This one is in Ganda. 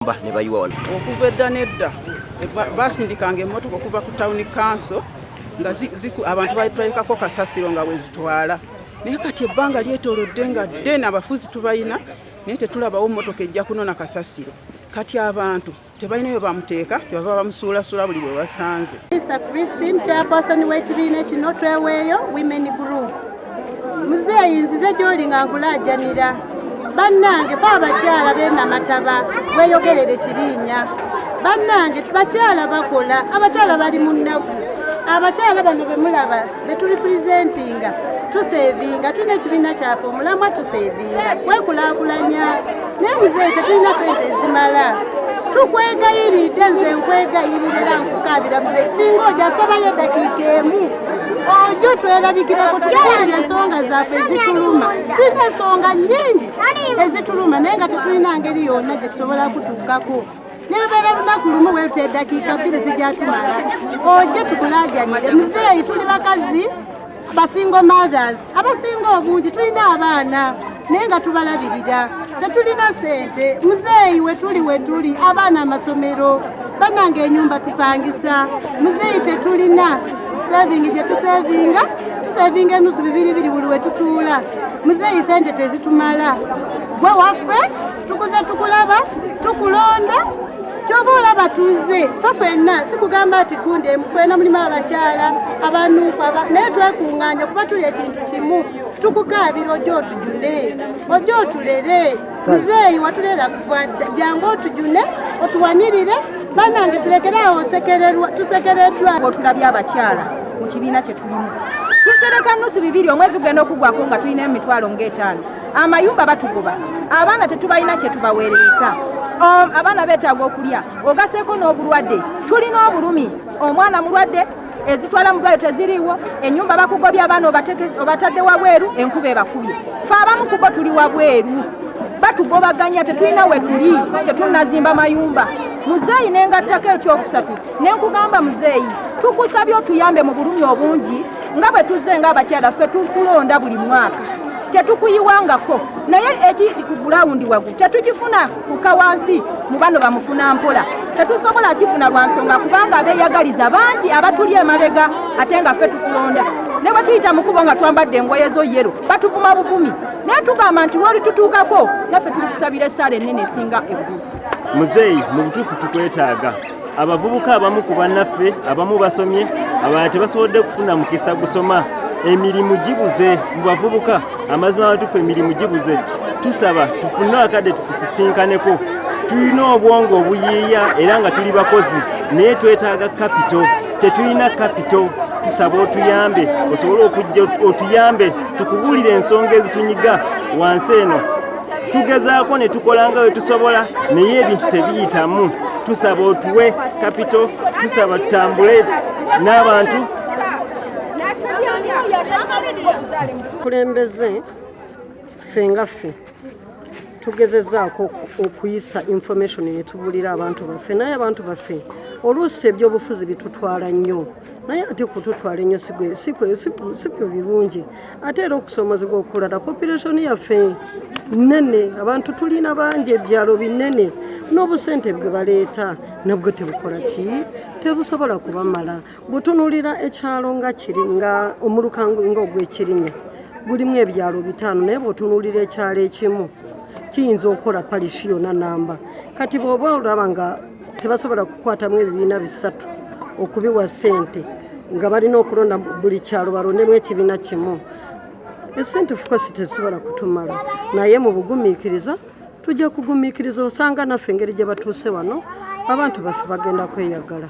abayumba ne bayiwa wano. Okuva edda n'edda basindikanga emmotoka okuva ku tawuni kanso nga abantu balekako kasasiro nga wezitwala naye kati ebbanga lyetolodde nga den abafuzi tubalina naye tetulabawo mmotoka ejja kunona kasasiro kati abantu tebalina bwe bamuteeka kyebava bamusuulasula buli bwe basanze Isa Christine chairperson w'ekibiina kino tweweeyo women group muzeeyi nzize gy'oli nga nkulajanira bannange fe abakyala benamataba weyogerere kirinya bannange bakyala bakola abakyala bali mu nnaku abakyala bano bemulaba betuli presentinga tusevinga tulina ekibiina kyaffe omulamwa tusevinga kwekulakulanya naye muzeeyi tetulina sente ezimala tukwegayiride nze nkwegayirire era nkukabira muze singa oja asabayo edakiika emu ojo twerabikireko tukuulira ensonga zaffe ezituluma tulina ensonga nyingi ezituluma naye nga tetulina ngeri yonna gyetusobola kutuukako nebeera lunaku lumu weruta eddakiika bbiri zijatumala oje tukulajanire muzeeyi tuli bakazi basingo mothers abasinga obungi tulina abaana naye nga tubalabirira tetulina sente muzeeyi wetuli wetuli abaana amasomero bananga enyumba tupangisa muzeeyi tetulina saving gye tusavinga tusavinga enusu bibiri biri buli wetutuula muzeeyi sente tezitumala gwe waffe tukuze tukulaba tukulonda kyoba olaba tuze fe fenna sikugamba nti gundi emufena mulimu abakyala abanuuku naye twekunganya kuba tuli ekintu kimu tukukaabira ojja otujune ojja otulere muzeeyi watulera kuva jangu otujune otuwanirire banange tulekere awo tusekereddwa otulabye abakyala mu kibiina kye tulimu tutereka nusu bibiri omwezi gugenda okugwako nga tulina emitwalo ngaetaano amayumba batugoba abaana tetubalina kyetubaweereza um, abaana beetaaga okulya ogaseeko n'obulwadde tulina obulumi omwana mulwadde ezitwala mu dwaliro teziriiwo enyumba bakugobya abaana obatadde wabweru enkuba ebakubye fe abamu kubo tuli wabweru batugobaganya tetulina wetuli tetunazimba mayumba muzeeyi nengattako ekyokusatu nenkugamba muzeeyi tukusabye otuyambe mu bulumi obungi nga bwe tuzze ng'abakyala ffe tukulonda buli mwaka tetukuyiwangako naye eki ku gulawundi wagu tetugifuna kuka wansi mu bano bamufuna mpola tetusobola kifuna lwa nsonga kubanga abeeyagaliza bangi abatuli emabega ate nga ffe tukulonda ne bwe tuyita mu kubo nga twambadde engoye zo yero batuvuma buvumi naye tugamba nti lwoli tutuukako naffe tuli kusabira essaala ennene esinga eggulu muzeeyi mu butuufu tukwetaaga abavubuka abamu ku bannaffe abamu basomye abalala tebasobodde kufuna mukisa gusoma emirimu gibuze mu bavubuka amazima amatufu emirimu gibuze tusaba tufune akadde tukusisinkaneko tulina obwongo obuyiiya era nga tuli bakozi naye twetaaga kapito tetulina kapito tusaba otuyambe osobole okujja otuyambe tukubuulire ensonga ezitunyiga wansi eno tugezaako ne tukola nga wetusobola naye ebintu tebiyitamu tusaba otuwe kapito tusaba tutambule n'abantu kulembeze ffe nga ffe tugezezaako okuyisa information netubulira abantu baffe naye abantu baffe oluusi ebyobufuzi bitutwala nnyo naye ate kututwala ennyo sibyo birungi ate era okusomozebwa okulala population yaffe nene abantu tulina bangi ebyalo binene n'obusente bwe baleeta nabwo tebukola ki tebusobola kubamala butunulira ekyalo nga kiri nga omuluka nga ogwekirinya gulimu ebyalo bitaano naye bwotunulira ekyalo ekimu kiyinza okukola palishi yona namba kati bwoba olaba nga tebasobola kukwatamu ebibiina bisatu okubiwa sente nga balina okulonda buli kyalo balondemu ekibiina kimu esente fukosi tezisobola kutumala naye mu bugumiikiriza tujja kugumiikiriza osanga naffe engeri gye batuuse wano abantu baffe bagenda kweyagala